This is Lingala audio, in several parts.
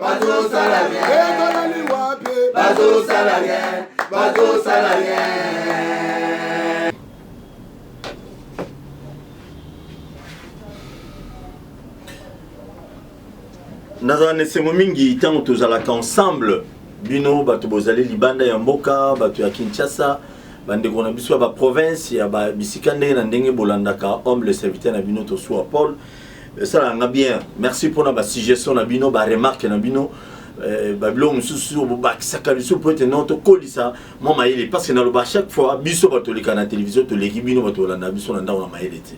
bazosala rien ezalali wapi bazosala rien bazosala rien nazala na esengo mingi ntango tozalaka ensemble bino bato bozali libanda ya mboka bato ya kinshasa bandeko na biso ya baprovince ya bisika ndenge na ndenge bolandaka homme le serviteur na bino tosuwa paul esalaka nga bien merci mpona basuggestion na bino baremarke na bino eh, babiloko mosusu bobakisaka lisusu mpo ete no tokolisa mwa mayele parce que naloba chaque fois biso bato oleka na télévision toleki bino bato olanda biso na ndako na mayele te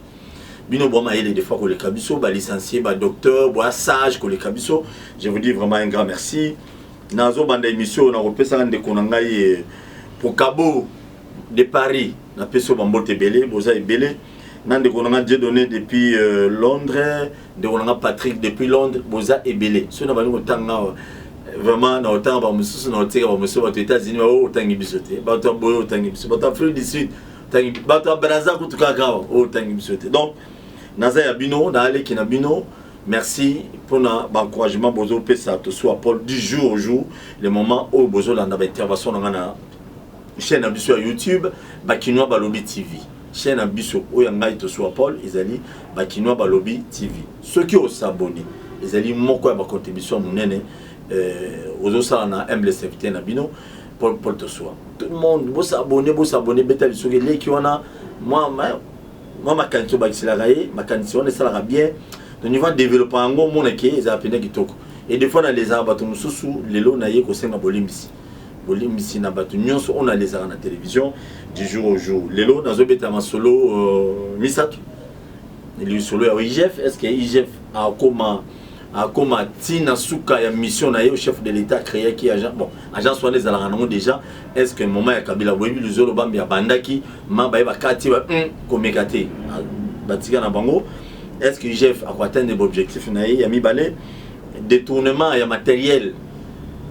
bino bwa mayele des fois koleka biso balicencie badocteur bwa sage koleka biso je vous dis vraiment un grand merci nazobanda émission oyo nakopesaka ndeko na ngai eh, pokabo de paris napesi yo bambote ebele boza ebele na ndeko na nga Dieudonné depuis euh, Londres ndeko na nga Patrick depuis Londres boza ebele soki na bandi kotanga awa vraiment na otanga bamosusu na otika bamosusu bato états-unis baoyo otangi biso te bato ya boye otangi biso bato ya afrique du sud otangi bato ya braza kutu kaka awa oyo otangi biso te donc naza ya bino naaleki na bino merci mpona baencouragement bozopesa tosua paul du jour au jour le moment oyo bozolanda baintervention na ngai na chaîne na biso ya youtube bakinois balobi tv Chaine na biso oyo ya ngai Tosuwa Paul ezali ba Kinois balobi TV. Soki o s'abonner ezali moko ya ba contribution munene euh, ozosala na humble serviteur na bino Paul Paul Tosuwa. Tout le monde bo s'abonner bo s'abonner beta lisoki leki wana mwa mwa makanisi obakiselaka ye makanisi wana esalaka bien donc niveau developa yango omonake ezala mpenza kitoko e des fois nalezaka bato mosusu lelo na ye kosenga bolimbisi bolimbisi na bato nyonso oyo nalezaka na television du jour au jour lelo nazobeta masolo euh, misato lisolo ya igf est ce que igf akoma akoma ti na suka ya mission na ye au chef de l'état créaki agent bon agence wana ezalaka nango déjà est ce que moment ya kabila boyebi luzolo bambi abandaki ma baye bakati ba mm, komeka te ah, batika na bango est ce que igf akoatteindre baobjectif na ye ya mibale détournement ya matériel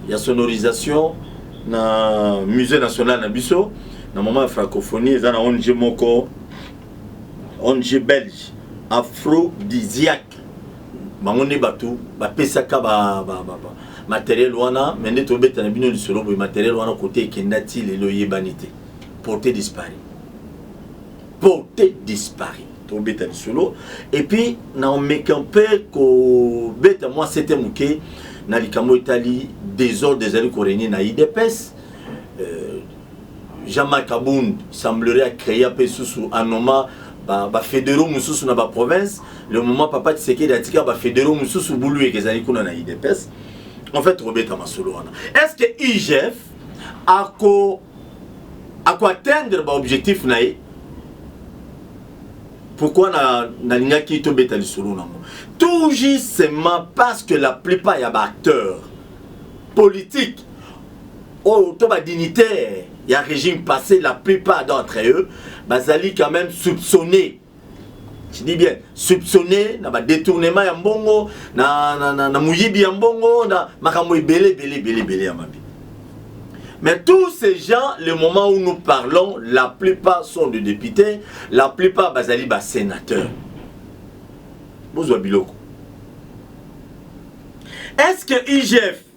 ya sonorisation na musee national na biso na moment ya francophonie eza na ong moko ong belge afrodisiac bango nde bato bapesaka ba, ba, ba, ba, materiel wana me nde tobeta na bino lisolo boye materiel wana kote ekenda ti lelo eyebani te porte dispari porte disparu tobeta lisolo epuis naomeka mpe kobeta mwa sete moke na likambo etali desordre ezali koregne na idps euh, jean-marc abund semblerait acréa mpe susu anoma bafedero ba mosusu na baprovince le moment papa tisekedi atika bafedero mosusu buluyeke ezali kuna na idps en fait tokobeta masolo wana est ce que igf ako ako atteindre ba objectif na ye pourquoi na nalingaki tobeta lisolo nango tout justement parce que la plupart ya ba acteurs politiques oyo to ba dignitaires ya régime passé la plupart d'entre eux bazali quand même soupçonnés je dis bien soupçonné na badetournement ya mbongo na, na, na, na moyibi ya mbongo na makambo ebele ebele ebele ebele ya mabe mais tous ces gens le moment où nous parlons la plupart sont de députés la plupart bazali basénateurs bozwa biloko est ce que igf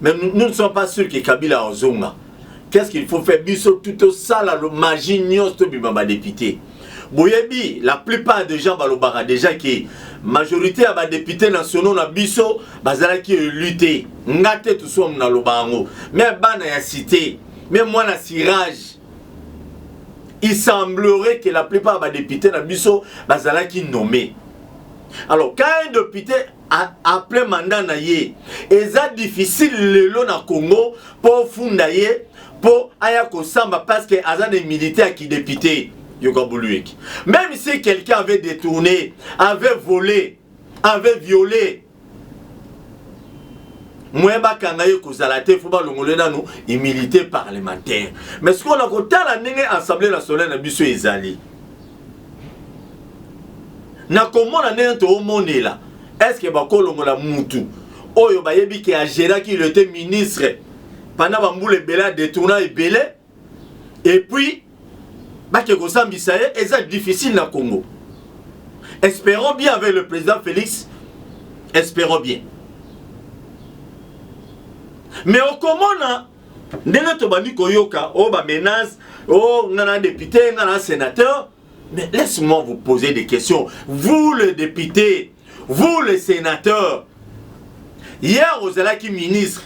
mais nous ne sommes pas sûrs que kabila akozonga qu'est ce qu'il faut faire biso tout tosala magie nyonso tobima badepute boyebi la plupart de gens balobaka déjà ke majorité ya badepute nationaux na biso bazalaki elu te nga te tusuamu naloba yango me bana ya cité me mwana sirage il semblerait que la plupart ya badepute na biso bazalaki nommé alors quand un député après mandat na ye eza difficile lelo na congo mpo ofunda ye mpo aya kosamba parce que aza na immunité ya kidepute yoka boluyeki même si quelqu'un avait détourné avait volé avait violé moyen bakanga ye kozala te fo balongole nano immunité parlementaire mais sikoyo na kotala ndenge assemblée nationale na biso ezali na komona ndenge toomonela eske bakolongola mutu oyo bayebi ke ageraki il était ministre pendant bambula ebele adetourna ebele epuis bake kosambisa ye eza difficile na congo espérons bien avec le président félix espérons bien mais okomona ndenge tobandi koyoka o oh, ba menace o oh, nga na député nga na sénateur mais laisse moi vous poser des questions vous le député vous le sénateur hier ozalaki ministre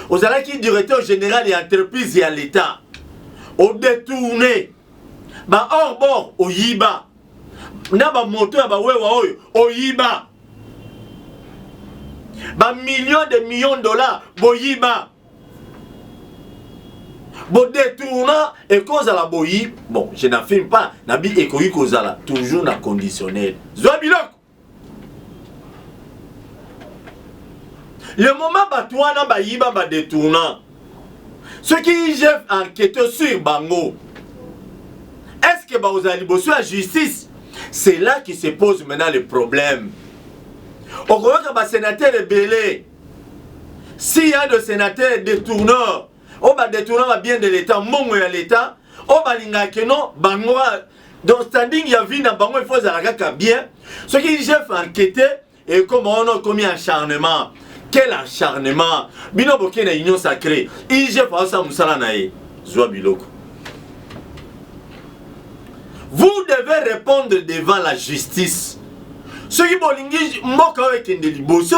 ozalaki directeur général ya entreprise ya l'état odetourne baorbor oyiba na bamoto ya bawewa oyo oyiba bamillion de million dollar boyiba Bo detourna ekozala boyi. Bon, je n'affirme pas. Nabi ekoki kozala toujours na conditionnel. Zwa biloko. Le moment bato wana bayiba ba detourna. Soki IGF enquête sur bango. Est-ce que bakozala liboso ya justice? C'est là qui se pose maintenant le problème. okoyoka basenatere ebele s'il y a de sénateurs détourneurs oyo oh, badetourna ba bien de l'état mbongo ya l'état oyo oh, balingaka keno bango donc standing ya vie na bango ifo ezala kaka bien soki jef enquete ekoma wana okomi acharnement quel acharnement bino boke na union sacré igf aosala mosala na ye zwa biloko vous devez répondre devant la justice soki bolingi mboka oyo ekende liboso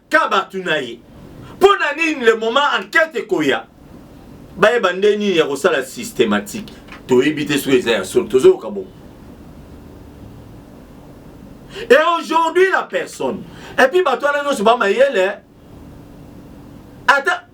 ka bato na ye mpo na nini le moment enquête ekoya bayeba nde nini ya kosala systématique toyebi te soki eza ya solo tozoyoka bongo et aujourd'hui la personne epuis bato wana nyonso bamayele ata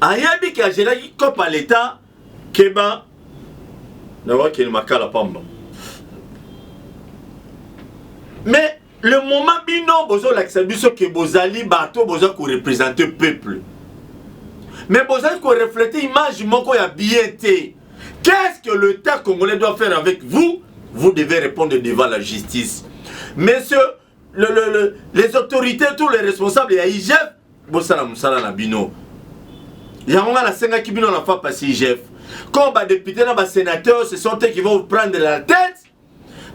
ayebi ke azelaki cope ya leta keba na wakende makala pamba mais le moment bino bozolakisa biso ke bozali bato boza korepresente peuple mais bozali koreflete image moko ya bien te qu'est ce que l'état congolais doit faire avec vous vous devez répondre devant la justice monsieur le, le, le, les autorités tous les responsables ya igf bosala mosala na bino yango ngai nasengaki bino na fa pasi igf comme badepute na basénateur ce sont eux qui vont vous prendre la tête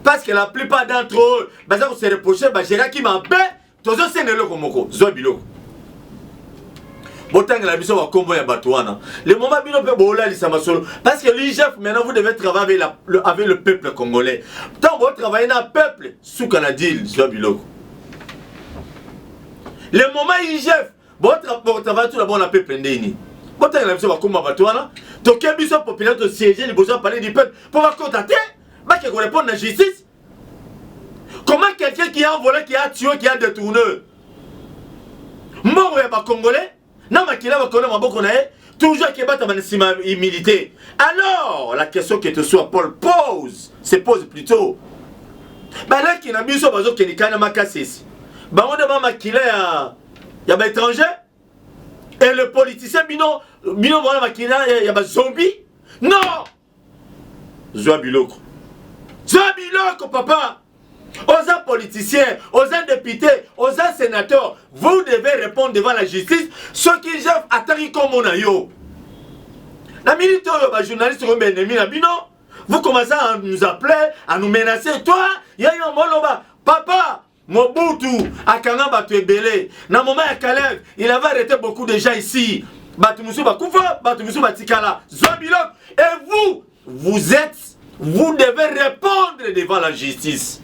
parce que la plupart d'entre eux baza kose reproche bageraki mabe tozosenga eloko moko zwa biloko botangela biso bakombo ya bato wana le moment bino mpe bolalisa masolo parce que l'igf maintenant vous devez travailler avec, la, le, avec le peuple congolais ntango botravaille na peuple suka na deal zwa biloko le moment igf botravaille tuna bona pepe ndeni botangela biso bakoma bato wana toke biso populaire tosiege liboso ya palais du peuple mpo bakota te bake korepondre na justice comment quelqu'un qui a volé qui a tué qui a détourné mbongo ya bacongolais na makila makolo na maboko na ye toujours akebatama na nsima ya humilité alors la question que tosua paul pose se pose plutôt balaki na biso bazokende kai na makasisi bango nde ba makila ya, ya baétranger et le politicien bino bino mwana makila ya, ya bazombi non zwa biloko zwa biloko papa oza politicien oza député oza sénateur vous devez répondre devant la justice soki jeff ataki nkombo na yo na minute oyo bajournaliste oyo baennemi na bino vous commencez à nous appeler à nous menacer toi ya yo moloba papa Mobutu akanga bato ebele na moma ya Kalev, il avait arrêté beaucoup de gens ici. Bato mosusu bakufa, bato mosusu batikala. Zwa biloko et vous vous êtes vous devez répondre devant la justice.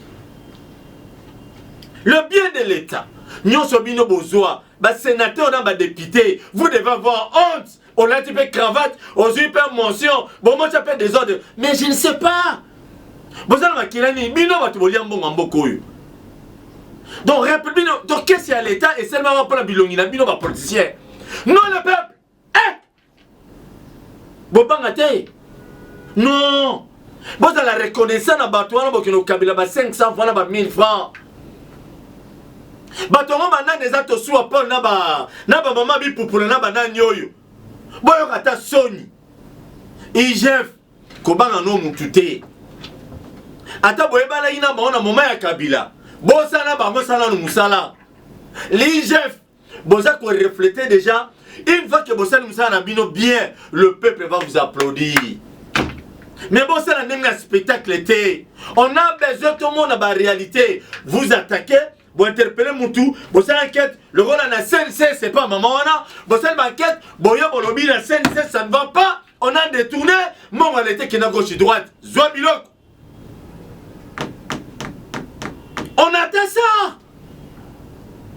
Le bien de l'État, nyonso bino bozwa, ba sénateurs na ba députés, vous devez avoir honte olati mpe cravate ozwi mpe mention bomotya mpe desordre mais je ne sais pas boza na makila nini bino bato bolia mbongo ya mboka oyo donc reple bino to kesi ya leta esalemaka mpo na bilongi na bino bapoliticien non le peuple eh! bobanga te non bozala reconnaissant na bato wana bokende kokabela ba 500 francs na ba 1000 francs bato yango banani eza tosuwa paul na ba na bamama bipupula na banani oyo boyoka ata soni igf kobanga no mutu te ata boyebanaki na bango na moma ya kabila bosala bango salano mosala ligf boza ko reflete deja une fois que bosali mosala na bino bien le peuple va vous applaudir mais bosala ndenge ya spectacle te on a besoin tomona baréalité vous attaquez bointerpele mutu bosala enquête lokola na cnc c'est pas mama wana bosali baenquête boye bolobi na cnc ça ne va pas on a détourné mbongo ya leta ekenda gauche droite zwa biloko on attend ça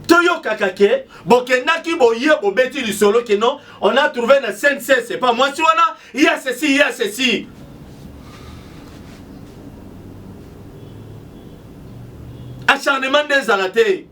toyokaka ke bokendaki boye bobeti lisolo ke non on a trouvé na cnc c'est pas mwasi wana ya ceci ya ceci acharnement nde ezala te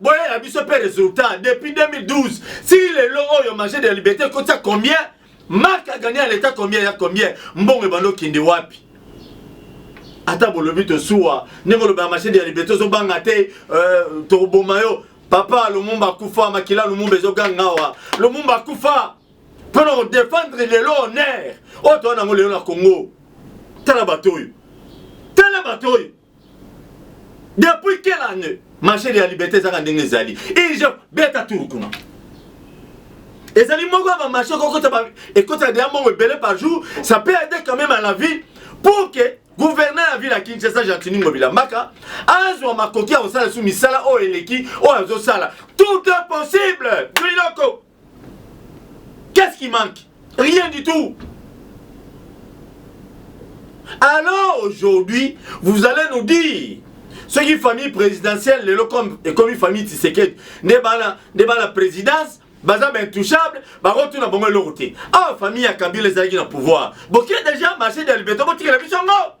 boyela biso mpe resultat depuis 2012 si lelo oyo marché de la liberté ekotia combien mark agani ya leta combien ya combien mbongo ebanda okende wapi ata bolobi tosuwa ndenge olobaka marché de la liberté ozobanga te euh, tokoboma yo papa lumumba akufa makila lumumba ezoganga awa lumumba akufa mpo na kodefendre lelo honneur oyo toa nango lelo na congo tala bato oyo tala bato oyo depuis quelle année machine ya liberté ezaka ndenge ezali ije beta tour kuna ezali moko ya bamarché ekotaka deya mbongo ebele par jour ça peut aider quand même à la vie pour que gouverneur ya ville ya kinshasa gentini ngobila mbaka azwa makoki ya kosala su misala oyo eleki oyo azosala tout est possible biloko Qu'est-ce qui manque Rien du tout. Alors aujourd'hui, vous allez nous dire ce qui famille présidentielle, le comme et comme famille Tshisekedi, n'est pas la, n'est pas la présidence, baza ba intouchable bakotuna bango eloko te awa famille ya kabila ezalaki na pouvoir bokie déjà marché de liberté botikela biso yango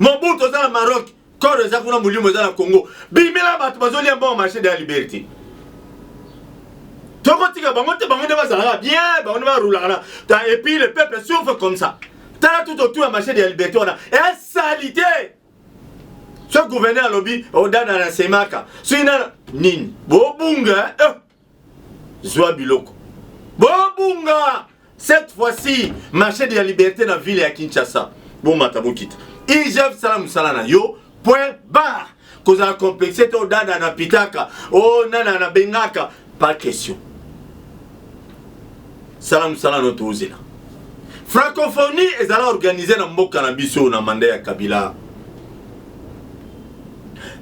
mobutu oza na maroc koro eza kuna molimo eza na congo bimela bato bazolia mbongo marché de la liberté tokotika bango te bango nde bazalaka bien bango nde barulaka na ta epuis le peuple souffre comme ça tala tout autour ya marché de la liberté wana esalite soki gouverneur alobi odana na semaka soki nana nini bobunga eh? zwa biloko bobunga cette fois-ci marché de la liberté na ville ya kinshasa bomata bokita igf sala mosala na yo point bar kozala complexe te odada na pitaka o oh, nana na bengaka pas question sala mosala no tozela francophonie ezala organise na mboka na biso na manda ya kabila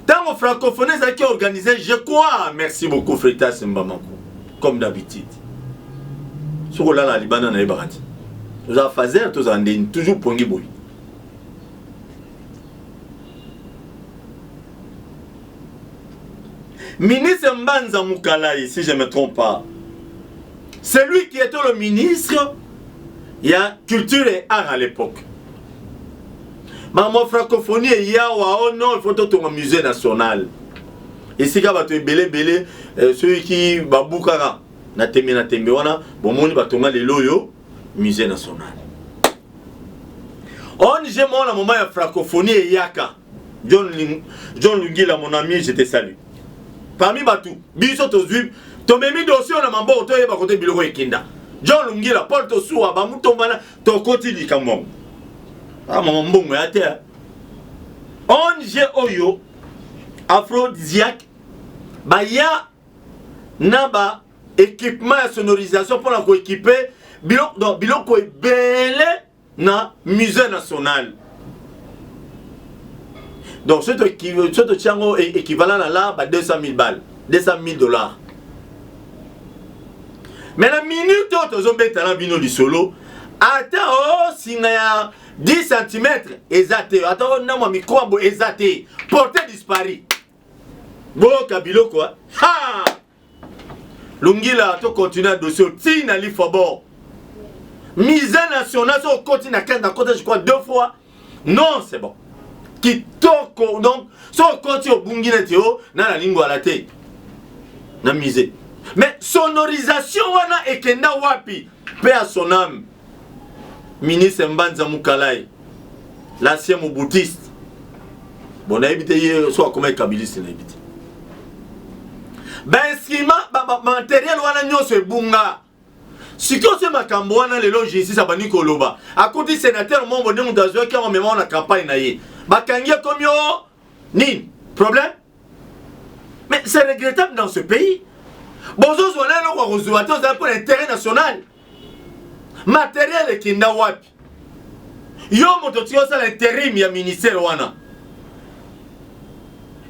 ntango francophonie ezalaki organise je crois merci beaucoup fretas mbamako comme d'habitude soki olala na libanda nayebaka te tozala fazer tozala ndeni toujours pongi boye ministre mbanza mukalayi si je me trompe pas celui qui était le ministre ya culture et art à l'époque makambo francophonie eyawa o oh non il faut totonga musée national esika bato ebele ebele eh, soki babukaka na tembe na tembe wana bomoni batonga lelo oyo musée national ong moko na moma ya francophonie eyaka john, john lungila mon ami je te salue parmi bato biso tozwi tomemi dosi oyo na maboko toyeba kote biloko ekinda john lungila paul tosuwa bamutombana tokoti likambo yango ah, mama mbongo ya te onge oyo aphrodisiaque baya na ba équipement ya sonorisation mpona koekipe biloko, biloko ebele na musée national donc soki totia yango e, équivalent na la ba 200 000 balles 200 000 dollars mais na minute oyo tozobeta na bino lisolo ata o singa ya 10 cm eza te ata o ndambo ya mikro yango eza te porte dispari boyoka biloko ha longila to continue na dossier tii na lifobor mise nationale so okoti na kenda kota je crois deux fois non c'est bon kitoko donc so okoti obungi neti o na na lingwala te na musée mais sonorisation wana ekenda wapi mpe ya son âme ministre mbanza mukalayi l'ancien mobutiste bon nayebi te ye so akomaki kabiliste nayebi te bainstrument bamateriel wana nyonso ebunga sikoyo se makambo wana lelo justice abandi koloba akuti sénateur mombo nde moto azwaki yango mema na campagne na ye bakangi ekomi o nini problème mais c'est regrettable dans ce pays bozozwa na eloko ya kozwa te ozali mpo na intérêt national materiel ekinda wapi yo moto tika osala interim ya ministère wana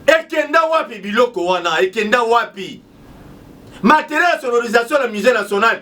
ekenda wapi biloko wana ekenda wapi materiel ya sonorisation na musée national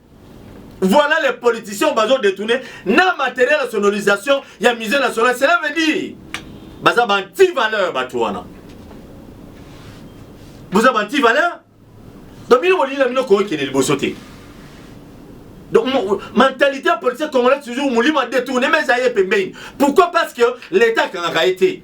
Voilà les politiciens bazo détourner na matériel ya sonorisation ya musée national. Cela veut dire baza ba anti valeur bato wana. Boza ba anti valeur. Donc bino bolingi na bino kookende liboso te. Donc, mentalité politique congolaise, toujours, Moulima détourné, mais ça y est, Pourquoi Parce que l'État a été.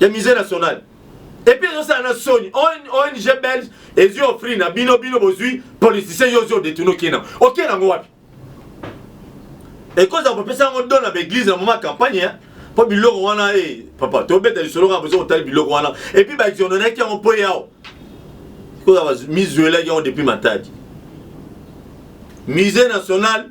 ya musee national epuis ezosala na soni ong belge ezwi ofri na bino bino bozwi politicien yo ozwi odetourne okie nango okie nango wapi ekozala kopesa yango don na baeglise na moma campagne eh? mpo biloko wana e eh, papa tobeta lisolo kaka bozo kotali biloko wana epuis baexononaki yango mpo yao ekozala mizwelaki yango depuis matadi musée national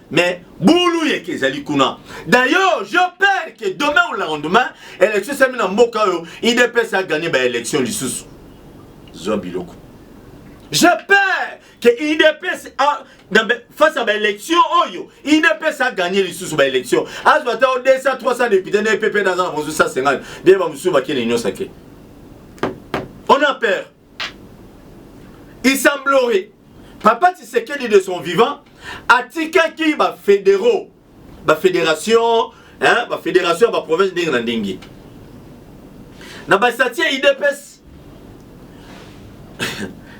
Mais boulou yeke ezali kuna. D'ailleurs, je peur que demain ou le lendemain, élection sami na mboka oyo, IDPS a gagné ba élection lisusu. Zwa biloko. Je peur que IDPS a dans face à ba élection oyo, IDPS a gagné lisusu ba élection. Azwa ta 200 300 députés na EPP na za na 150. Bien ba musuba kene nyosa ke. On a peur. Il semblerait, Papa Tshisekedi de son vivant, atikaki ba fédéraux, ba fédérations, hein, ba fédérations ya ba provinces ndenge na ndenge. Na ba statier IDPS,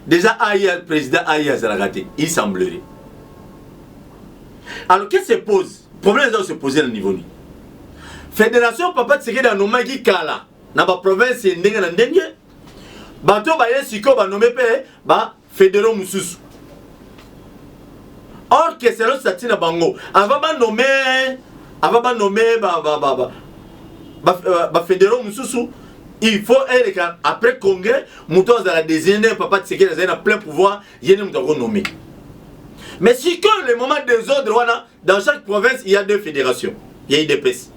déjà aya président aya azalaka te, il semblerait. Alors qu'est-ce qui se pose? Problème eza se poser na niveau nini? Fédération Papa Tshisekedi anomaki kala na ba provinces ndenge na ndenge bato baye sikoyo banome mpe ba federo mosusu or que selon stati na bango avant banome avant banome bafedero euh, mosusu il faut eleka après congrès moto azala désigne nde papa tisekeli azali na plein pouvoir ye nde moto akonome mais sikoyo le moment desordre wana dans chaque province il y a deux fédérations ya idps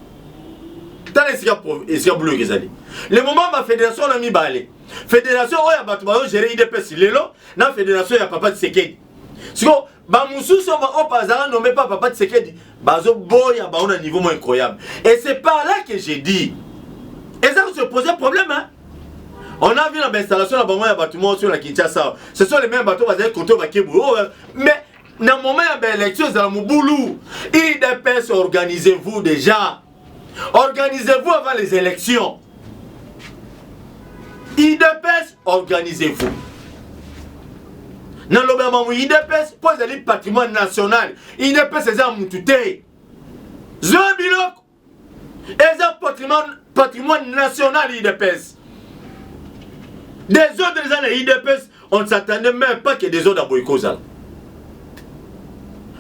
tala esika esika buluyeke ezali le moment bafédération wana mibale fédération oyo ya bato bazogere idps lelo na fédération ya papa tisekedi siko bamosusu oyo bazala nome pa papa tisekedi bazoboya bango na niveau mo incroyable et c'est par là que j'ai dit eza kose pose problème hein? on a vu na bainstallation na bango ya bato moko sur na kinshasa ce sont les mêmes bato bazali koto bakebu oh, mais na moment ya baélection ezala mobulu idps organisez-vous déjà organisez-vous avant les élections idps organisez-vous naloba ya mamu idps mpo ezali patrimoine national idps eza ya mutu te zoya biloko eza patrimoine, patrimoine national idps desordre eza na idps on ne s'attendait même pas que desordre aboyi kozala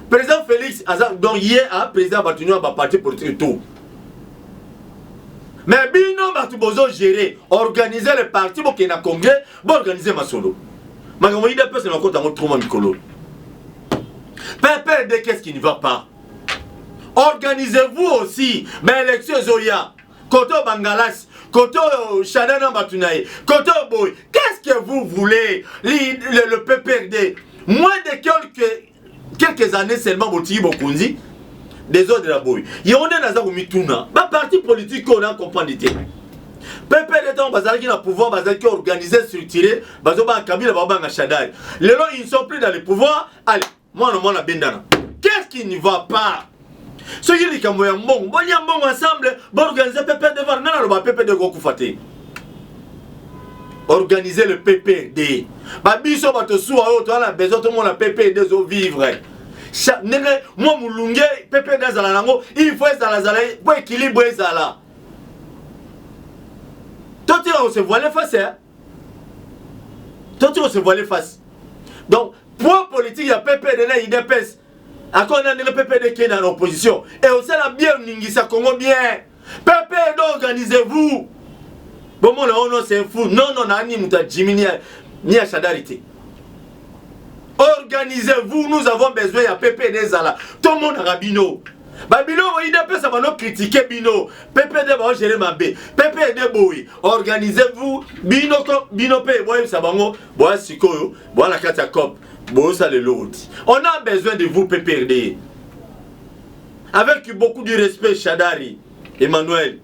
président félix aza donc ye a président bato nyonso baparti politique tout mais bino bato bozo gérer organise le parti bokende na congrès boorganize masolo makambo idps na bakota yango truma mikolo pepere de qu'est ce qui ne va pas organisez-vous aussi ba élection ezoya kote oyo bangalasi kote oyo shada na bato na ye kote oyo boye qu'est-ce que vous voulez li, le, le pprd moins de quelques, quelques années seulement botiki bokonzi desordre ya boye yango nde naza komituna baparti politike oyo na comprendre te pepele ntango bazalaki na pouvoir bazalaki organise structure bazobanga kabila babanga shadari lelo ils sont plus dans le pouvoir allez mwana mwana bendana qu'est-ce qui ne va pas soki likambo ya mbongo bolia mbongo ensemble baorganize ppd var ngai naloba ppd ekokufa te organise le ppd babiso bato suwa oyo toza na besoin tomona ppd ezovivre ndenge mwa molunge ppd ezala nango il faut ezalazala mpo ekilibre ezala totika kose voile face toti ko se voiler face donc poids politique ya ppd na idps akoo na ndenge ppd ke na opposition e osala bien oningisa congo bien ppd organisez vous bomona ono se fou non non na ani moto ya jimi ni ya shadari te organisez-vous nous avons besoin ya ppd ezala tomonaka bino babiloko ide apesa bano kritike bino ppd baogere mabe ppd boye organisez-vous bino bino mpe boyebisa bango boya sikoyo boya na kati ya cope bosala eloko ti on a besoin de vous pprd avec beaucoup du respect shadari emmanuel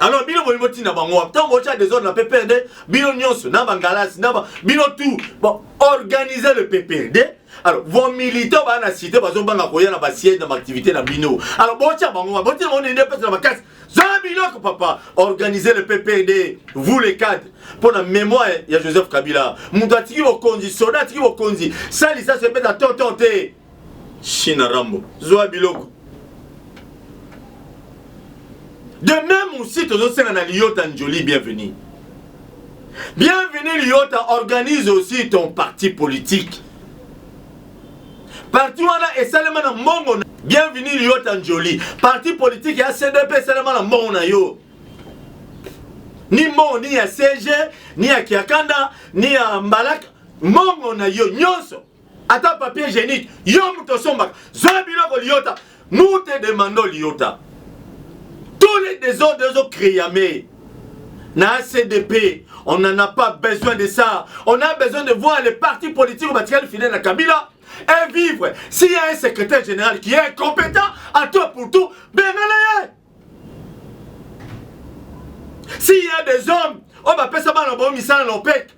alors bino bolingi botinda bango wapi ntango botya desordre na pprd bino nyonso na bangalasi na bino tout bon, organiser le pprd alors vos militants baa na cité bazobanga koya na basiège na baactivité na bino alors botya bango wapi botinda bango nende pesa na makasi zala biloko papa organiser le pprd vous les cadres mpo na mémoire ya joseph kabila moto atiki bokonzi soda atiki bokonzi salisa se beta tonton te Shina Rambo zwa biloko de même aussi tozosenga na Liyota Njoli bienvenue bienvenue Liyota organise aussi ton parti politique parti wana esalema na mbongo na bienvenue Liyota Njoli parti politique ya CDP esalema na mbongo na yo ni mbongo ni ya CG ni ya Kiakanda ni ya Mbalaka mbongo na yo nyonso ata papier hygiénique yo moto osombaka zwa biloko liyota nous te demandons liyota tous les désordres ezo créame na cdp on n'en a pas besoin de ça on a besoin de voir les partis politiques batikali fidèle na kabila et vivre s'il y a un secrétaire général qui est incompétent à toi pour tout bengana ye s'il y a des hommes oyo bapesa bana na bango misala na opec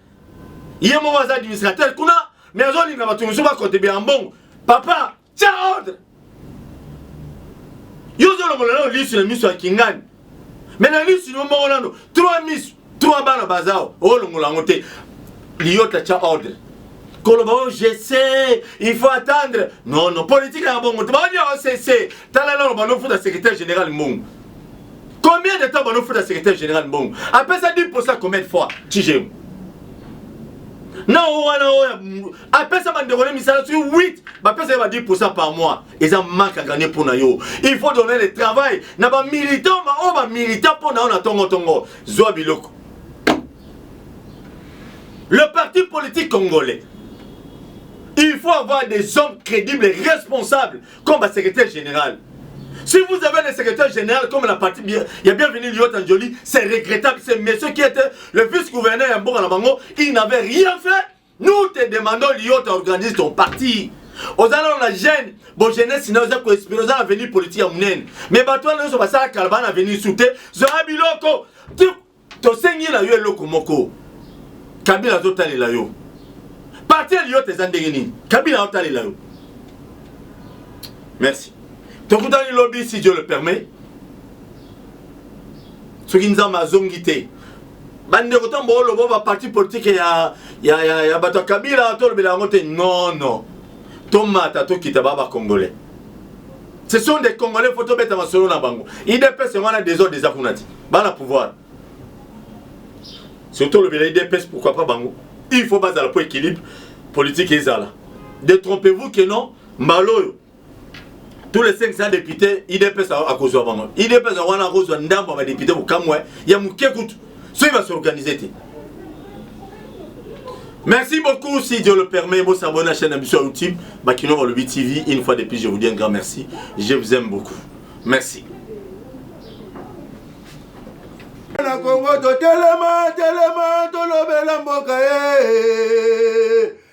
ye moko aza administrateur kuna me azolinga bato mosusu bakontribue ya mbongo papa tya ordre yo ozolongola nao lisu na miso ya kingani me na lisu no moko nano 3 misu Trois bana baza olongola yango te. Liyota cha ordre. koloba oyo oh, je sais il faut attendre non non politique ya bongo te baonia osese tala nano banofuta secrétaire général mbongo combien de temps banofuta secrétaire général mbongo apesa 10 posa combien de fois tijemu na oyo wana oyo apesa bandeko ne misala soki 8 bapesa ye ba 10 posa par mois eza marque à gagner mpo na yo il faut donner le travail na bamilitant baoyo bamilitant mpo na yo na tongotongo zwa biloko le parti politique congolais il faut avoir des hommes crédibles et responsables comme ba secrétaire général si vous avez le secrétaire général comme la partie bien, il y a bienvenu Liot Anjoli, c'est regrettable. C'est monsieur qui était le vice-gouverneur à Mboka Nabango, il n'avait rien fait Nous te demandons Lyon, tu organises ton parti. oza nano na jeune bo jeunesse na oza koespere oza na avenir politique ya monene me bato wana nyonso basala kala baa na avenir su te zwaa biloko tosengi na yo eloko moko kabila azotalela yo parti ya liyote eza ndenge nini kabila azotalela yo merci tokutani lobi si dieu le permet soki nzambe azongi te bandeko ntango booloba ba parti politike ya, ya, ya, ya bato ya kabila tolobela yango te nono tomata tokita baa bacongolais ce sont des congolais fo tobeta masolo na bango idps yango wana desordre eza kuna te bana pouvoir soki tolobela idps pourquoi pas bango il faut bazala mpo équilibre politique ezala détrompez-vous que non mbala oyo tous les 500 députés idps akozwa bango idps wana akozwa ndambo ya badepute mokamwe ya moke kutu soki basorganize te Merci beaucoup, si Dieu le permet, vous s'abonnez à la chaîne Ambition YouTube, Bakino Walobi TV. Une fois de plus, je vous dis un grand merci. Je vous aime beaucoup. Merci. na kongo totelema telema tolobela mboka ye eh.